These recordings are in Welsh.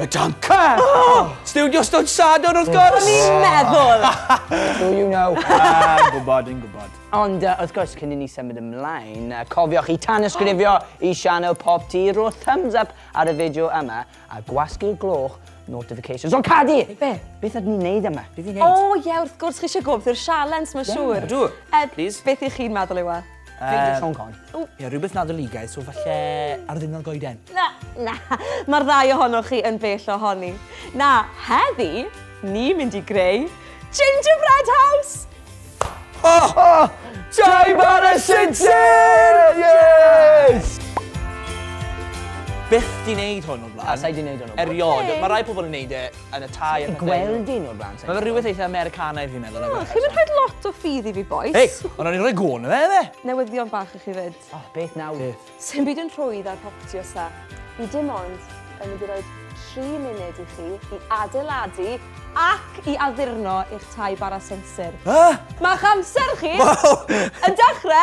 Y danca! Oh! Studio Stod Sadwrn wrth gwrs! O'n i'n meddwl! Do you know? Ah, yn gwybod, yn gwybod. Ond uh, wrth gwrs, cyn i ni symud ymlaen, uh, cofiwch i tanysgrifio oh. i Sianel Pop T, rho thumbs up ar y fideo yma, a gwasgu'r gloch notifications. O, Cadi! Be? Beth ydyn ni'n neud yma? Beth i'n neud? O, ie, wrth gwrs, chi eisiau gwybod i'r sialens, mae'n siŵr. Ydw, please. Beth i chi'n meddwl yw e? Peidiwch sôn corn. Ie, rhywbeth Nadoligaidd, so falle ar ddiwrnod goeden. Na, na, mae'r ddau ohonoch chi yn bell ohoni. Na, heddi, ni mynd i greu gingerbread house! Ho, ho! Joy bar y sinsir! Yes! Byth di wneud hwn o'r blaen. Na, sa'i di wneud hwn o'r blaen. Eriod, mae rhai pobl yn wneud e yn y Thai a pethau. Ti 'di gweld un o'r blaen? Mae fe rhywbeth eitha Americanaidd fi'n meddwl. O, chi'm yn rhoid lot o ffydd i fi bois. Hei! Ond o'n i'n rhoi gwn iddo fe yfe? Newyddion bach i chi 'fyd. O, beth nawr? Beth? Sdim byd yn rhwydd ar hoptio sa. Fi dim ond yn mynd i roi tri munud i chi i adeiladu ac i addurno eich tai bara sensir. Be? Ma'ch amser chi yn dechre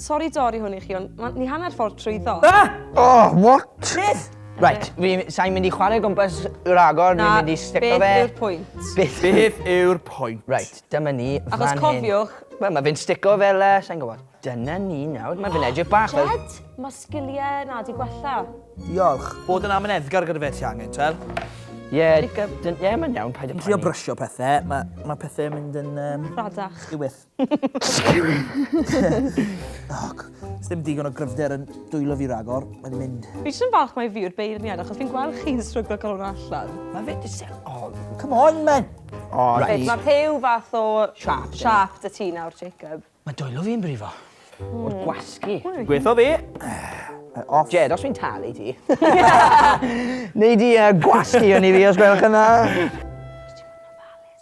Sori dori hwn i chi ond ma, ni hanner ffordd trwyddo. Ah! Oh, what? Beth? Right, fi, sa'n mynd i chwarae gwmpas ragor, ni'n mynd i stico fe. Na, beth yw'r pwynt? Beth, beth yw'r pwynt? Right, dyma ni fan hyn. Achos cofiwch. Wel, mae fe'n stico fel, uh, sa'n gwybod. Dyna ni nawr, mae fe'n edrych bach fel... Jed, mae sgiliau na di gwella. Diolch. Bod yn amyneddgar gyda fe ti angen, twel? Ie, yeah, yeah, mae'n iawn, paid yn poeni. Trio brysio pethau, mae ma pethau yn mynd yn... Um, Radach. Diwyth. Sdim digon o gryfder yn dwylo fi ragor, mae'n mynd. Fi jyst yn falch mae fi yw'r beirniad achos fi'n gweld chi'n stryglo cael hwnna allan. Mae fe jyst yn odd. Come on, man! O, right. Mae rhyw fath o... Sharp. Sharp dy ti nawr, Jacob. Mae dwylo fi'n brifo. O'r gwasgu. Gwetho fi. Off. Jed, os fi'n talu ti. Neu di gwasgu o'n i fi, os gwelwch yn dda.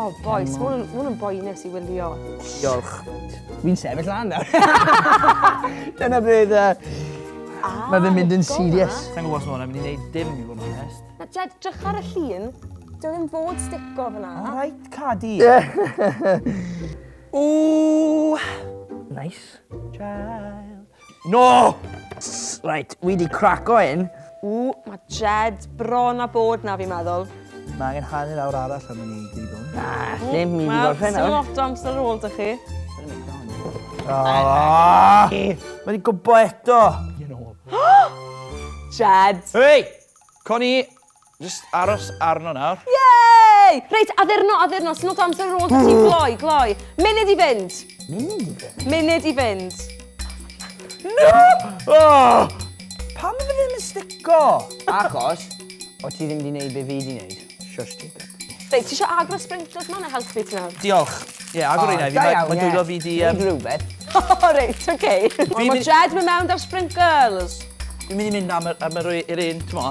O bois, ma' 'wn yn, ma' 'wn yn boenus i wylio. Diolch. Fi'n sefyll lan nawr. Dyna beth yy... Ah, Mae fe'n mynd yn digon dda. serious. Sa'n gwybod os ma' hwnna'n mynd i wneud dim i fod yn onest. Na, Jed, drych ar y llun. Dyw e ddim fod stico fan'na. Alright, Cadi. Ww! Nice. Child. No! Ss, reit, wi di craco un. Ww, mae Jed bron a bod na fi'n meddwl. Mae angen hanner awr arall am i ni gyd hwn. Na, ddim mynd i gorffen nawr. Wel, lot o amser ar ôl dych chi. Ah! Mae di gwbo eto! Jed! Hei! Connie, Jyst aros arno nawr. Yay! Reit, addurno, addurno, it's not answer roll, da ti'n gloi, gloi. Munud i fynd. Munud i fynd. No! Oh! Pam ydw ddim yn stico? Achos, o ti ddim di wneud be fi di wneud. Shush, Jacob. Reit, ti eisiau agor y sprinklers ma neu helpu ti nawr? Diolch. Ie, yeah, agor oh, un fi. Mae dwylo fi di... Um... Rhywbeth. O, reit, oce. Mae Jed mewn da'r sprinklers. Dwi'n mynd i mynd am yr, am yr, yr un, ti'n mo?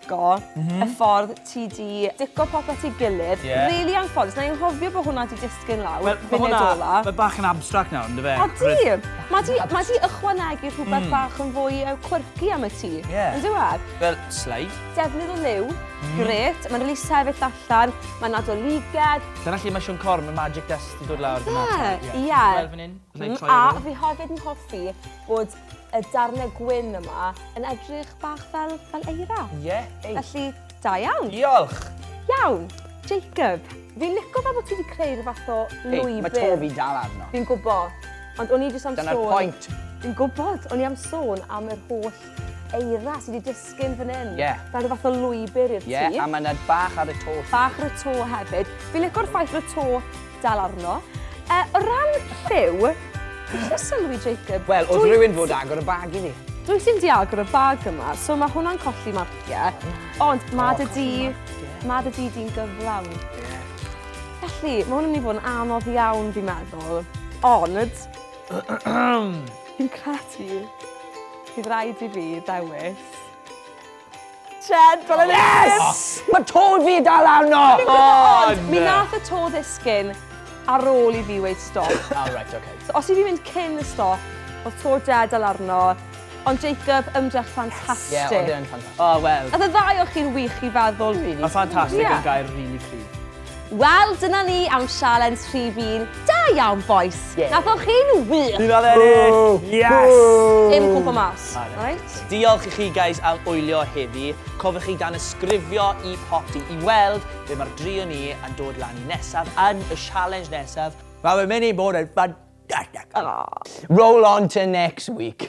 dico, y ffordd ti 'di dico popeth i gilydd. Ie. Rili anffodus, na i anghofio bo' hwnna 'di disgyn lawr munud ola. Wel, ma' hwnna, ma' bach yn abstract nawr, on'd yfe? Odi! Ma' 'di, ma' 'di ychwanegu rhwbeth bach yn fwy yy quirky am y tŷ. Ie. On'd yw e? Fel slide. Defnydd o liw, grêt, ma'n rili sefyll allan, ma'n adolygiad. Dyna lle ma' Siôn Corn, ma' magic dust 'di dod lawr. Yfe? Ie. Fel fyn 'yn. Nai troi e rownd. A fi hefyd yn hoffi bod y darnau gwyn yma yn edrych bach fel, fel eira. Ie. Yeah, ei. Felly, da iawn. Diolch. Iawn. Jacob, fi'n lico fel bod ti wedi creu rhyw fath o lwybr. Ei, mae to fi'n dal arno. Fi'n gwybod. Ond o'n i jyst am sôn... Dyna'r pwynt. Fi'n gwybod. O'n i am sôn am yr holl eira sydd wedi Sgin fan hyn. Ie. Fel rhyw fath o lwybr i'r tŷ. Ie, a mae yna bach ar y to. Bach ar y to hefyd. Fi'n licio'r ffaith fod y to dal arno. Yy, o ran lliw, dwi jyst yn sylwi, Jacob... Wel, oedd rhywun fod agor y bag i ni. Dwyt ti'n di agor y bag yma, so mae hwnna'n colli marciau. Ond mae dy du... Mae dy du di'n gyflawn. Felly, mae hwn yn mynd i fod yn anodd iawn, fi'n meddwl. Ond... Fi'n credu... Bydd rhaid i fi ddewis. Ched, fel yn Yes! Mae to fi dal arno! Ond, mi nath y to ddisgyn ar ôl i fi weud stop. Ah, right, okay. So, os i fi mynd cyn y stop, oedd to Jed al arno, ond Jacob, ymdrech ffantastig. Ie, oedd e'n ffantastig. O, wel. Oedd y ddau o chi'n wych i feddwl, really. Mae ffantastig yn gair really cryf. Wel, dyna ni am sialens rhif un. Da iawn, bois! Yeah. Nathoch chi'n wych! Ni'n oedd ennill! Yes! Dim cwmpa mas. Right? Diolch i chi, guys, am wylio heddi. Cofiwch chi dan ysgrifio i Poppy i weld be mae'r drio ni yn dod lan i nesaf yn y sialens nesaf. Mae fe'n mynd i bod yn ffantastig. Roll on to next week.